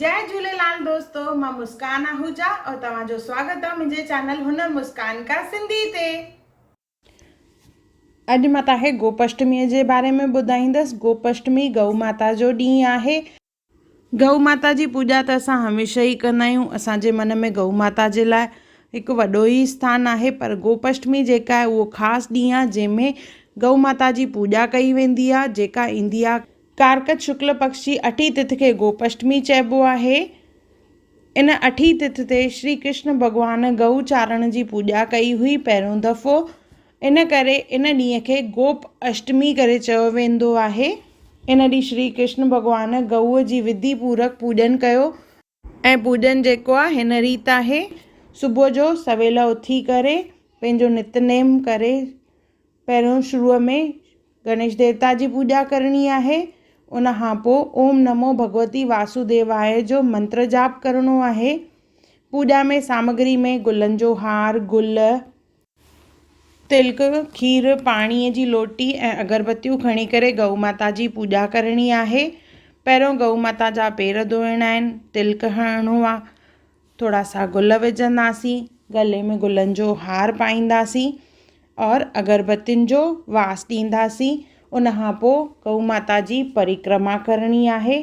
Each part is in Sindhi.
جئي جهوليلال دوستو مان مسڪان آهوجا اور توهان جو سواگت آ منهنجي چينل هنر مسڪان ڪا سنڌي تي. اڄ مان توهان کي گوپشٽميء جي باري ۾ ٻڌائيندس. گوپشٽمي گئو ماتا جو ڏينهن آهي. گئو ماتا جي پوڄا ته اسان هميشه ئي ڪندا آهيون. اسان جي من ۾ گئو ماتا جي لاء هڪ وڏو ئي اسٿان آهي پر گوپشٽمي جيڪا آهي اهو خاص ڏينهن آهي جنهن ۾ گئو ماتا جي پوڄا ڪئي ويندي آهي جيڪا ايندي آهي ڪارڪٽ شڪل پڪش جي اٺين تٿ کي گوپشٽمي چئبو آهي. ان اٺين تٿ تي شري ڪرشن ڀڳوان گئو چارڻ جي پوڄا ڪئي هئي پهريون دفعو ان ڪري ان ڏينهن کي گوپ اشٽمي ڪري چيو ويندو آهي. ان ڏينهن شري ڪرشن ڀڳوان گئوء جي وڌي پورڪ پوڄن ڪيو ۽ پوڄن جيڪو آ هن ريت آهي صبح جو سويل اٿي ڪري پنهنجو نت نيم ڪري پهريون شروع ۾ گڻيش ديوتا جي پوڄا ڪرڻي آهي ان کان پوء اوم نمو ڀڳوتي واسوديواء جو منتر جاپ ڪرڻو آهي پوڄا ۾ سامگري ۾ گلن جو هار گل تلڪ، کير، پاڻيء جي لوٽي ۽ اگربتيون کڻي ڪري ڳئو ماتا جي پوڄا ڪرڻي آهي. پهريون ڳئو ماتا جا پير ڌوئڻا آهن، تلڪ هڻڻو آ، ٿورا سا گل وجهنداسين، ڳلي ۾ گلن جو هار پائينداسين اور اگربتين جو واس ڏينداسين، ان کان پوء ڳئو ماتا جي پرڪرما ڪرڻي آهي.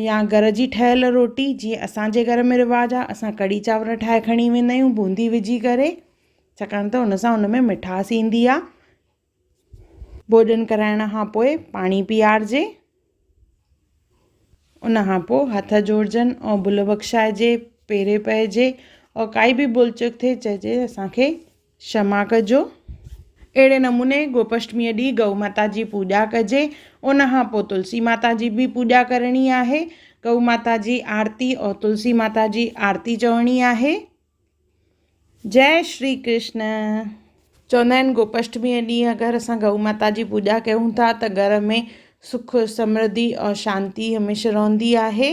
يا گهر جي ٺهيل روٽي جيئن اسانجي گهر ۾ رواج آ اسان ڪڙهي چانور ٺاهي کڻي ويندا آهيون بوندي وجهي ڪري ڇاڪاڻ ته ان سان ان ۾ مٺاس ايندي آ ڀوڄن ڪرائڻ کان پوء پاڻي پيارجي ان کان پوء هٿ جوڙجن ۽ ڀل بخشائجي پيري پئجي ۽ ڪائي به ڀل چڪ ٿئي چئجي اسانکي شما ڪجو. اهڙي نموني گوپشٽميء ڏينهن گئو ماتا جي پوڄا ڪجي. ان کان پوء تلسي ماتا جي به پوڄا ڪرڻي آهي. گئو ماتا جي آرتي ۽ تلسي ماتا جي آرتي چوڻي آهي. جئه شري ڪرشن. چوندا آهن گوپشٽميء ڏينهن اگر اسان گئو ماتا جي پوڄا ڪيون ٿا ته گهر ۾ سک، سمرڌي ۽ شانتي هميشه رهندي آهي.